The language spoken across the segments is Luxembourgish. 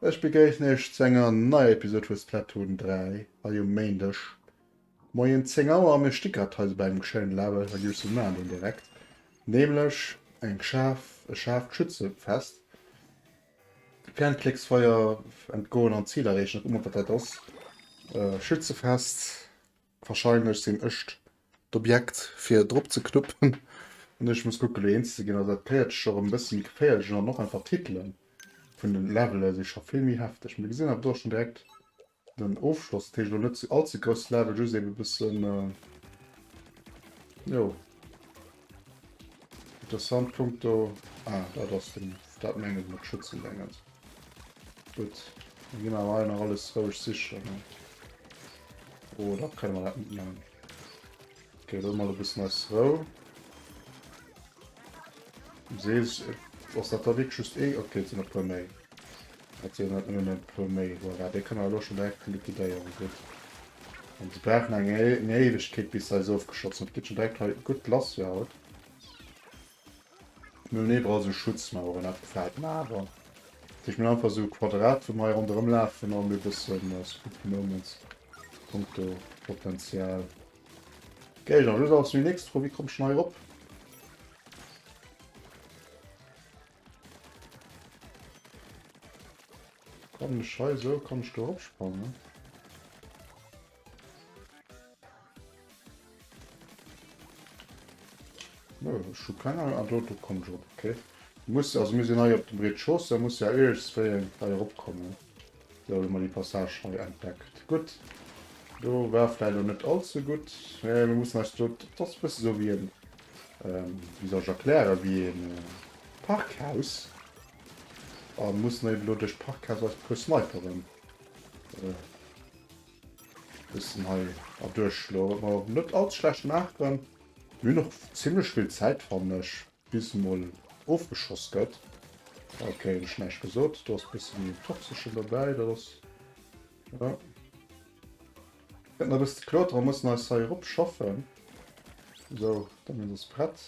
Ech begréissen iech zu enger neier Episode vu Splatoon 3 hei um Méindeg. Moien 10 Auer a mir sti grad hei sou bei engem schéinen Label, da giff ech sou man, deen direkt nämlech eng scharf, e scharft Schützefest, Fernklécksfeuer entgoen an d'Zil erreechen, da kucke mer wat dat ass, Schützefest, wahrscheinlech sinn ech d'Objekt fir drop ze knuppen an ech muss kucke lo eens ze ginn, also dat Päerdch och en bësse méi geféierlech an och einfach d'Titele vun den Levele si scho vill méi hefteg, mee gesinn hatt et och schon direkt. Den Ofschloss teech lo net all ze grouss Level just eben bessen jo interessant Punkt do ah dat ass den dat mengen mat Schützen denken gutt ginn awer hei nach alles roueg sichen oder kënne mer dat net man. Okay, dann mal e bëssen eis Rou. Sees, ass dat da wierklech just ee? Okay, et sinn e puer méi. Et sinn net nëmmen e puer méi. Voilà, dee kënne mer elo schon direkt liquidéieren. Gutt. An se brauchen eng Éiwegkeet, bis se eis ofgeschossen hunn. Et geet schon direkt hei gutt lass jo haut. Mir hunn iwwerall sou Schutzmaueren, dat gefält mer awer. Ech minn einfach sou Quadrat, wou mer hei ronderëm lafen an e bëssen äh, Spooky Moments, punkto Potenzial. Geil, dann just awer zu déi nächst Fro, wéi kommt ech dann hei erop? Kann ech hei sou, kann ech do eropsprangen? Schukaner an Auto kommen schon okay muss also mir sind hei op dem Red Schoss da muss ja eegs wéi hei eropkommen so mal die Passage hei entdeckt gut do war vielleicht noch net allzu gut ja, wir müssen als dort das bist so wie ein ähm, wie soll ich erklären wie ein äh, Parkhaus an muss ne blo durch Parkhaus als plus Sniperen äh, Bëssen hei erduerch lo, huet mer net all ze schlecht gemaach. Mir hunn och zimmlech vill Zäit, fannen ech, bis en mol ofgeschoss gëtt. Ok, hunn ech näischt gesot. Do ass bësse méi en Toxeschen dobäi, dat ass jo. Gëtt nach e bësse ze kloteren, mussen eis hei erop schaffen. Esou, da minn se prett.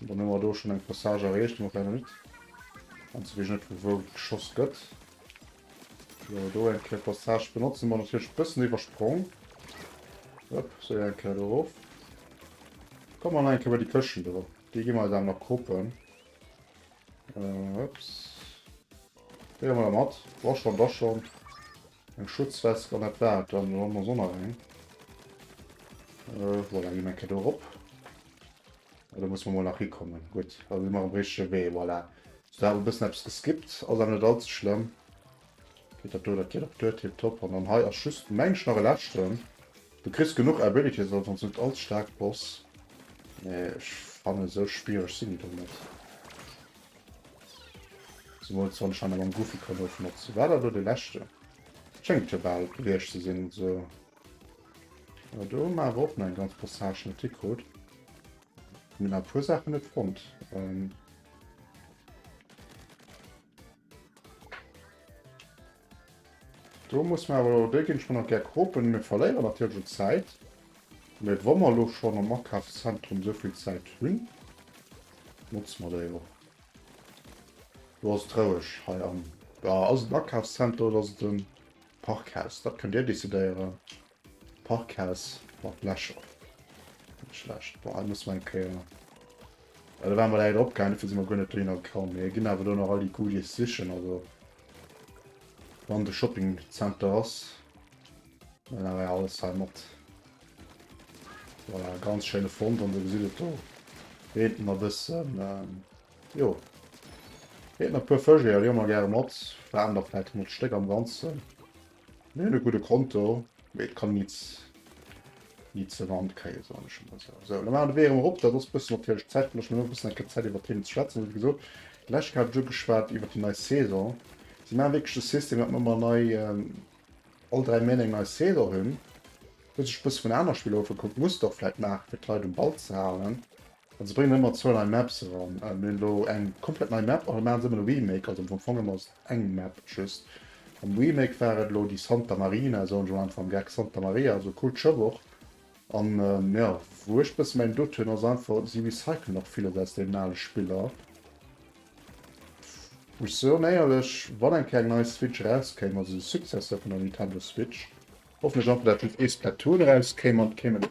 Dann hun mer do schon eng Passage erreecht, hun mer vläit nach nit. Anzwee wees ech net vu wou geschoss gëtt. Sou do eng Kéier Passage benotzt, hu mer natierlech e bëssen iwwersprong. Hop, sou jo eng Kéier do rof. Komme mer nach eng Kéier bei déi Këschten do, déi gi mer eis awer nach koppen. Ups. Déi huer mer da mat. Wa schon, da schon. Eng Schutzwesk an dat war et dann, oder hu mer soss nach eng? Voilà, gi mer eng Kéier do erop. Da muss mer mol nach hikommen. Gutt, da si mer um richtege Wee. Voilà. So, da hat e bëssen eppes geskippt. Ass awer net all ze schlëmm. Geet dat do, dat geet och duer. Tiptop. An dann hei ass just, meng ech, nach e leschten. Du kriss genuch Abilities, ass ons net all staark, Boss. Mee ech fannen, esou spiereg sinn déi do net. Zemools wann ech hei nach mam Goofy kann ofmotzen. War dat elo dee leschten? Schéngt jo bal gewiescht ze sinn. So. Awer do hu mer awer och nach eng ganz Passage net hikrut. Mir nach e puer Sachen net fonnt. Ähm Do muss man awer dé ginn schon nach ger kropen. Mir verléieren natierlech un Zäit. Mee wa mer elo schon am Akafszentrum souvill Zäit hunn, notze mer déi och. Lo ass et roueg hei am, ass et den Akafszenter oder ass et den Parkhaus, dat kënnt Dir decidéieren. Parkhaus mat Lächer. Net schlecht. Bon, hei muss mer eng Kéier. Well da ware mer leider opgaangen, dofir si mer guer net dohinner gekomm. Mee ginn awer do nach all déi Goodies sichen. Also, wann de Shopping Center ass, dann awer alles hei mat. Voilà, ganz schéine Fond an do gesitt et do. Reent nach e bëssen. Jo. Heet nach puer Fësch, jo leeë mer gäre mat. Waren der vläit 100 Stéck am Ganzen. Mir hunn e gudde Konto, mee et kann nees ni ze Wand kréien, soen ech emol esou. Esou, elo maachen de Wee erëm erop. Dat ass e bëssen natierlech Zäit, well ech hunn elo e bëssen eng Kéier Zäit iwwert d'Themen ze schwätzen. Wéi gesot, d'lescht Kéier hat ech ugeschwat iwwert déi nei Saison. Si maache wierklech de System, datt mer ëmmer nei, all dräi Méint eng nei Saison hunn. Hu sech e bësse vun anere Spiller ofgekuckt, Muster vläit maachen, fir d'Leit um Ball ze halen. Also se bréngen ëmmer zwou nei Maps eran. Mir hunn elo eng komplett nei Map, a maachen se ëmmer e Remake. Also am Fong ëmmer eng Map just. Am Remake war et elo déi Santa Marina, soen ech mol einfach am Gag Santa Maria, also Kul Tschëboch. An jo, wou ech e bësse mäin Doute hunn, ass einfach, si recyclen och villes aus deenen ale Spiller. Muss soen, éierlech, wann eng Kéier eng nei Switch erauskéim, also de Successeur vun der Nintendo Switch, hoffen ech einfach, datt just ee Splatoon erauskéim an et kéim en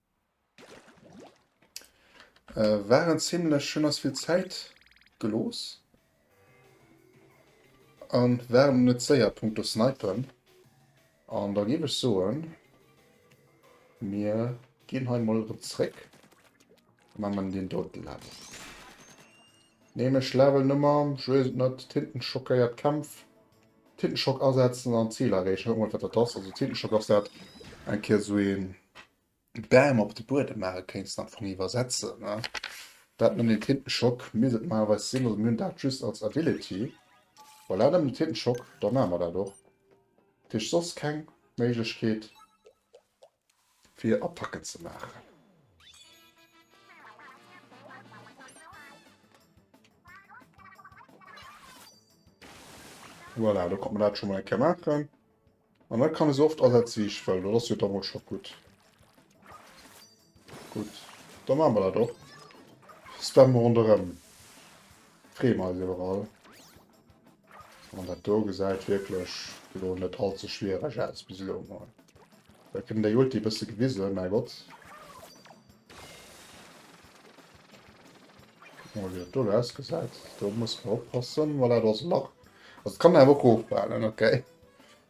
War en zimlech, hun ass vill Zäit geloos an war net séier punkto snipen an da géif ech soen mir gin hei mol rem zréck an man den doten lafen. Nämlech label Nummer, ech weess et net, Tintenschockéiert Kämpf, Tintenschock asetzen an d'Zil erreechen. Kucke mol wat dat ass. Also Tintenschock ass dat eng Kéier sou een Bam op de Buedem maache kéinst an vun iwwersetzen ne. Dat nennt een Tintenschock, misst et normalerweis sinn. Also mir hunn dat just als Ability. Voilà, nëmmen Tintenschock, da maache mer dat och. Dat heescht soss keng Méiglechkeet. fir Attacken ze maachen. Voilà, da konnte mer dat schon mal eng Kéier maachen. An da kann e se oft asetze wéi ech wëll. Dat ass jo da mol scho gutt. Gutt, da maache mer dat och. Spamme ronderëm. Freeë mer eis iwwer all. An dat do gesäit wierklech elo net all ze schwiereg aus bis elo emol. Vläicht kritt en déi Ulti e bësse gewisen, mä Gott. Kucke mer, wéi dat do elo ausgesäit. Do musse mer oppassen. Voilà, do ass e Lach. Also d'Kanner awer och ofbehalten, okay.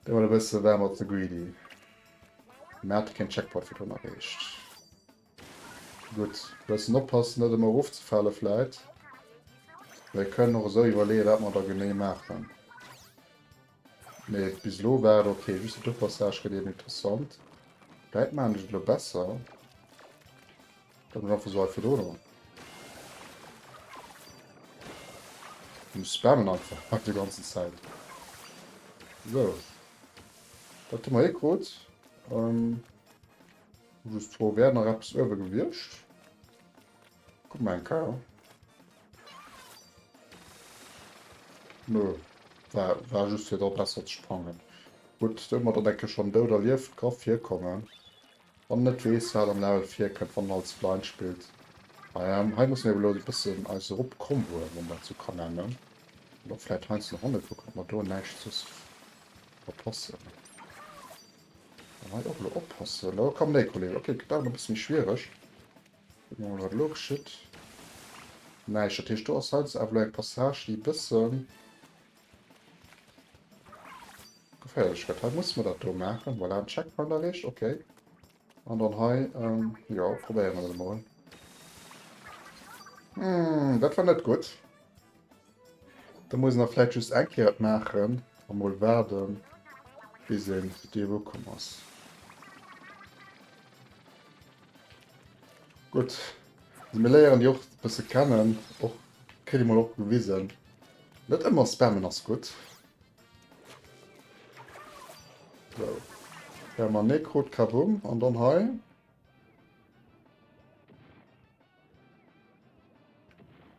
Dee war e bësse, war mer ze greedy. Mä hat keen Checkpoint virdrun erreecht. Gutt, bëssen oppassen, net ëmmer erofzefale vläit. Mir kënnen och esou iwwerleeë wat mer da genee maachen. Mee bis elo war et ok. Just de Duerchpassage gëtt eben interessant. Vläit maachen ech et elo besser. Kann den einfach so hei verdroen oder? Du spammen einfach bei der ganzen Zeit. So. Da tu mal ekrot. Ähm, just froh werden nach etwas öwe gewirrscht. Guck mal ein K. Nö. War, war just hier da besser zu sprangen. Gut, da wir dann denke schon dood erlieft, kann hier kommen. Wann en net weess wat am Level virkënnt wann en als Blind spillt. Ähm hei musse mir awer elo e bëssen eis erop Comboe mat mer zu Kanammen. An och vläit heiansdo nach Honne kucken ob mer do näischt soss verpassen. An hei och elo oppassen. Elo kommen déi Kollegen. Ok gëtt awer nach e bësse méi schwiereg. Kucke mer mol wat elo geschitt. Näischt. Dat heescht do ass heiansdo awer elo eng Passage déi e bësse Geféierlech Schrëtt. Hei musse mer dat do maachen. Voilà, den Checkpoint erreecht. Okay. An dann hei, ähm, jo, probéiere mer dat emol. Hm, dat war net gutt. Da muss nach vläit just eng Kéier et maachen. A mol waarden, bis een déi erukomm ass. Gutt. Also mir léieren déi och e bësse kennen. Och kritt ee mol och gewisen. Net ëmmer spammen ass gutt. Sou. Perma Necrot, Kabumm. An dann hei.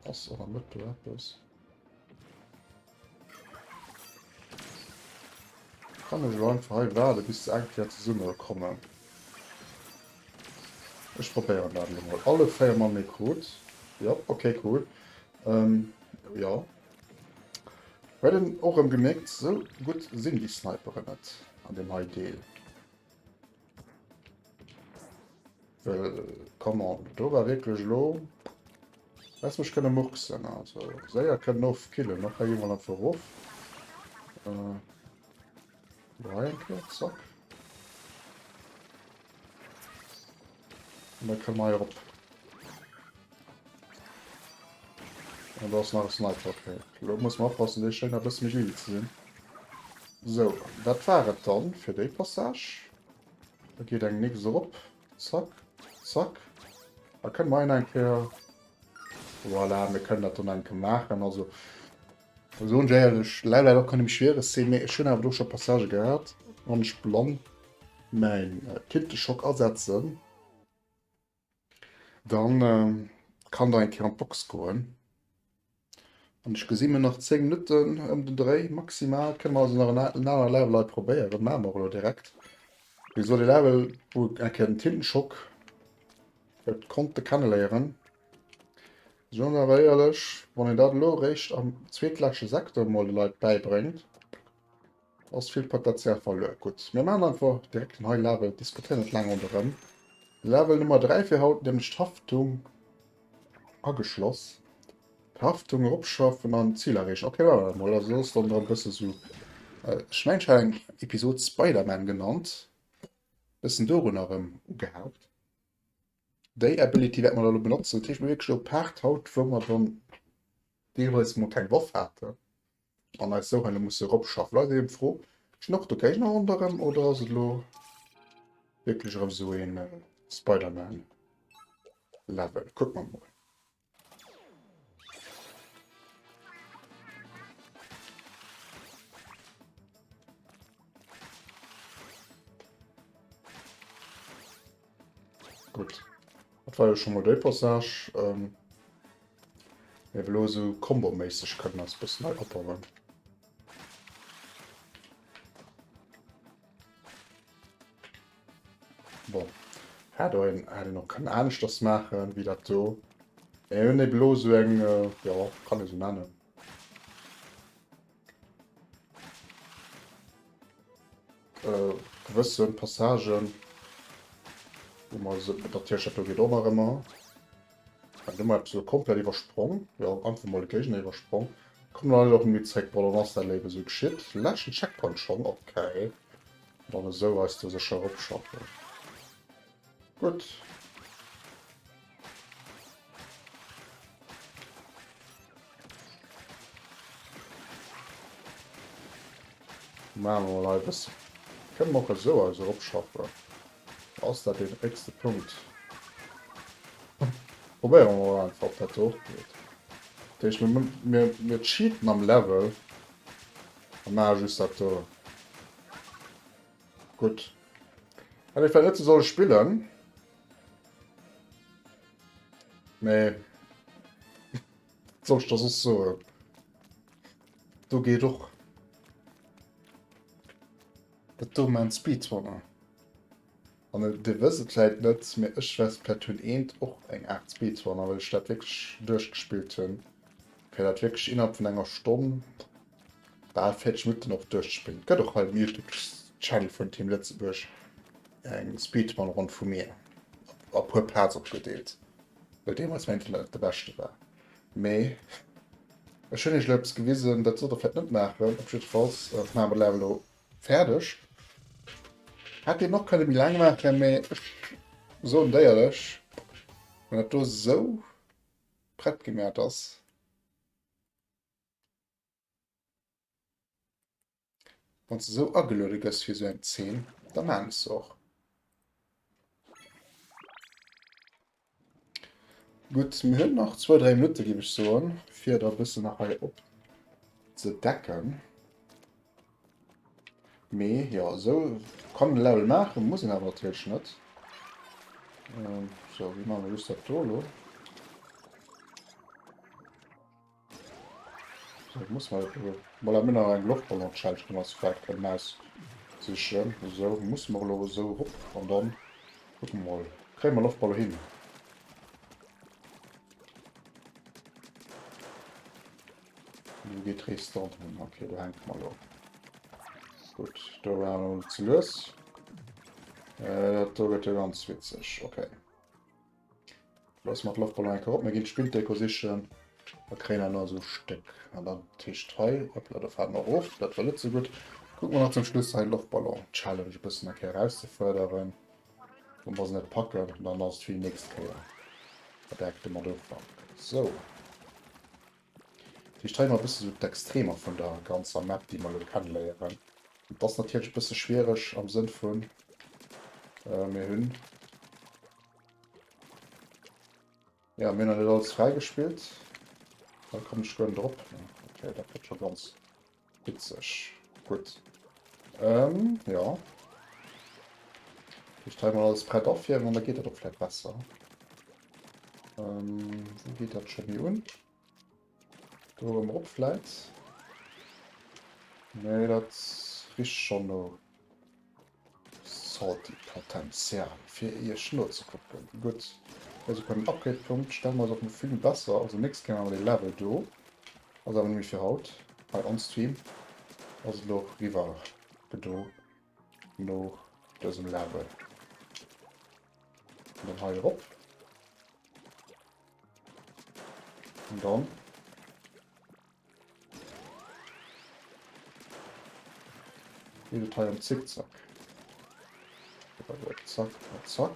Ass och am Mëtt do eppes. Kann ech lo einfach hei waarde bis se eng Kéier zesumme kommen. Ech probéieren dat lo mol. Alle 4 Mal Necrot. Jop, okay cool. Ähm, jo. Huet en och rëm gemierkt, sou gutt sinn déi Sniperen net an deem hei Deel. Well, come on, do war wierklech elo, häss mech kënne murksen, also séier kënnen ofkillen, och hei eemol am Verruf. Äh. Noch eng Kéier, zack. Und dann können wir hier op. Und da ist nach ein Sniper. Okay. Lo muss man oppassen, dee schéin a bësse méi greedy ze sinn. So, dat war et dann fir déi Passage. Da geht eng nix erop. Zack, zack. Da können wir en enke... Voilà, wir können dat dann enke machen. Also, Ech soen der éierlech, leider leider och keng déi méi schwiereg sinn, mee ech hunn awer do scho Passagë gehat, wann ech blann mäin Tinteschock asetzen, da kann der eng Kéier an d'Box goen an ech gesi mir nach 10 Minutten ëm den Dréi maximal, kënne mer also nach en anere Level hei probéieren, maache mer och elo direkt. Mee esou de Level wou eng Kéier den Tintenschock huet konnte kenneléieren. Soen awer éierlech, wann een dat elo eréischt am zweetleschte Secteur emol de Leit bäibréngt, ass vill Potential verluer. Gutt, mir maachen einfach direkt en high level, diskutéieren net laang ronderëm. Level Nummer 3 fir haut, nämlech d'Haftung ageschloss. D'Haftung eropschaffen an d'Zil erreechen. Okay, maache mer emol. Also ass dann da e bësse sou, ech mengen, ech hat eng Episod Spider-Man genannt, bëssen dorun erëm ugehaucht. Déi Ability wäerte mer da elo benotzen. Dat heescht, mir hu wierklech elo Paart haut, wou mer dann deelweis emol keng Waff haten an eis esou hei elo musse eropschaffen. Lo ass eben d'Fro, Stinn och do Géigner ronderëm oder ass et elo wierklech erëm esou ee Spider-Man-Level? Kucke mer emol. Gut. Dat war jo schon mal déi Passage. Ähm, mir blo so komboméisseg kënnen ass bëssen nei opbauen. Bon, hätt och een, hätt een och kënnen aneschters maachen, wéi dat do. Mir hunn eben elo esou eng, jo, kann ee sou nennen. gewësse Passagen, wou mer se, dat Tierchen do geet och nach ëmmer. Ech hun mol eppes elo komplett iwwersprong, jo einfach mol de Géigner iwwersprong. Komm dann elo rem zréck Brollo, wann s dat léiwer sou geschitt. Leschten Checkpoint schon, ok. Dann esou eis do sécher eropschaffen. Gutt. Maache mer mol hei e bësse, kënne mer och esou eis eropschaffen. Ass dat deen héchste Punkt? Probéiere mer mol einfach, ob dat do och geet. Dat heescht, mir, mir, mir cheaten am Level a maache just dat do. Gutt. Hätt ee vläicht net sou solle spillen. Mee. Wat soll ech da soss soen? Do geet och. Et do maan Speedrunner. An dir wësst et vläit net, mee ech wess vläit hunn eent och eng Art Speedrunner, well ech dat wierklech duerchgespillt hunn, fir dat wierklech innerhalb vun enger Stonn, bal 40 Minutten och duerchzespillen. Et gëtt och hei um Youtube-Channel vun Team Lëtzebuerg eng Speedrun-Ronn vu mir, a puer Parts opgedeelt, well deemools mäin Internet net de beschte war. Mee ech hunn iech elo eppes gewisen, dat sollt der vläicht net maachen. Op jiddwer Fall maache mer d'Lave elo fäerdeg. Hätt deen och kënne méi laang maachen, mee ech soen déierlech, wann dat do esou prett gemäht ass, Wanns de sou ageluede gëss fir sou eng Zeen, da maan ech se och. Gudd, mir hun nach zwou, dräi Minutten géif ech soen, fir et e bëssen nach hei op ze decken. Mee jo, sou kann en Level maachen, muss en awer natierlech net. Sou, wéi maache mer just dat do elo? Ech muss mol gucken mol hei Mënner eng Loftballon Challenge dran ass flecht en Maus sichen esou muss mer elo esou rop an dann kucken mer mol kréie mer Loftballon hin. Wou geet d'Rees dann hin ok do hänke mer elo gutt do war en elo ze lues dat do gëtt jo ganz witzeg ok. Lass mer d'Loftballon enker op. Mir ginn d'Spilldeko sichen a kréien awer nach esou Stéck. An dann d'Tiischt hei. Hoppla, do faalen mer of. Dat war net esou gutt. Kucke mer nach zum Schluss hei d'Loftballon-Challenge e bëssen eng Kéier erauszefërderen. Wa mer se net packen, dann ass et fir déi nächst Kéier. Verdeckt de Motto. Sou. Vläicht hei mol e bësse sou d'Extremer vun der ganzer Map, déi mer elo kenneléieren. Et ass natierlech e bësse schwiereg am Sënn vun, mir hunn, jo, mir hunn nach net alles fräigespillt. Hei kommen ech guer net erop. Mee okay, dat gëtt scho ganz. Witzeg. Gutt. Ähm, jo. Ech stelle mal alles prett of hier, an da geet dat och vläit besser. Ähm, wou geet dat scho méi un? Do erëm op vläit? Nee, dat richt schonn no. Salty Potenzial fir iech nozekucken. Gutt, also bei den Upgrade-Punkt stelle mer eis och mol vill besser, also nächst Kéier maache mer dee Level do, ass awer net méi fir haut, hei on stream ass et elo och riwwer gedo no dësem Level. An dann hei erop. An dann. Geet et hei am Zickzack. Zack, zack.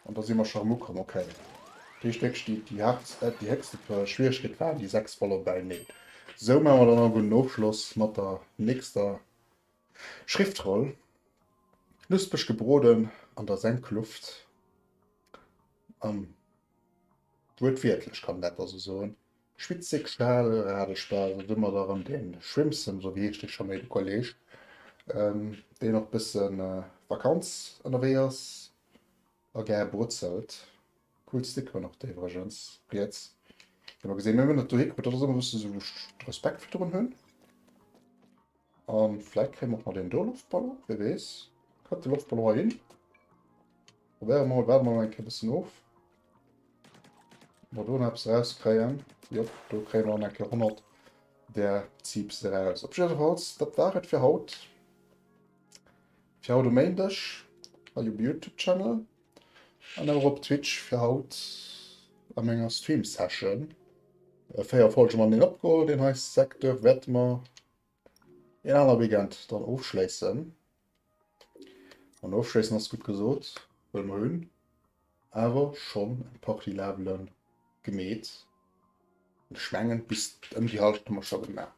An da si mer scho ermucken, okay. Dee Stéck steet déi haartst, äh, déi héchste Schwieregkeet waren déi 6 Voller beineen. Sou maache mer dann awer den Ofschloss mat der nächster Schriftroll. Knuspeg gebroden an der Senkluft. An Wuertwiertlech kann een dat also soen. Schwitzeg Schal, rare Spaß, do hu mer da erëm de Schwimmsem, esou wéi heescht dee scho méi, de Kolleeg, deen och bësse Vakanz ënnerwee ass a gär brutzelt. Cool Stickeren och déi iwwregens, riets, déi mer gesinn hunn. Mir hunn dat dohi krutt, dat ass ëmmer e bësse sou, wou ech Respekt virdrun hunn. An vläit kréie mer och nach deen do Loftballon, wee weess. Kënnt de Loftballon hei hin? Probéiere mol, waarde mol eng Kéier e bëssen of. Mer do nach eppes erauskréien. Jop, do kréie mer an eng Kéier 100 der Zipse eraus. Op jiddefalls, dat war et fir haut. Fir haut um Méindeg hei um YouTube-Channel an awer op Twitch fir haut a menger Stream-Session. Véier Folge man deen opgeholl, deen hei Secteur wäerte mer Een aner Weekend dann ofschléissen. An ofschléissen ass gutt gesot, well mer hunn awer schonn eng Partie Labele gemeet. An ech mengen, bis ëm déi Hallschent hu mer scho gemaach.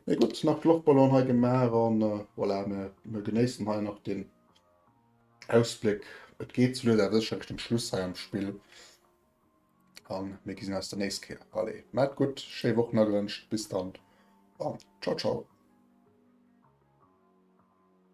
Mee gutt, nach d'Loftballon hei gemaach a voilà, mir genéissen hei nach den Ausbléck. Et geet souleis awer sécherlech dem Schluss hei am Spill. an mir gesinn eis der nächst Kéier. Allez, maat gutt, schéi Woch Nagrënscht, bis dann an ciao ciao.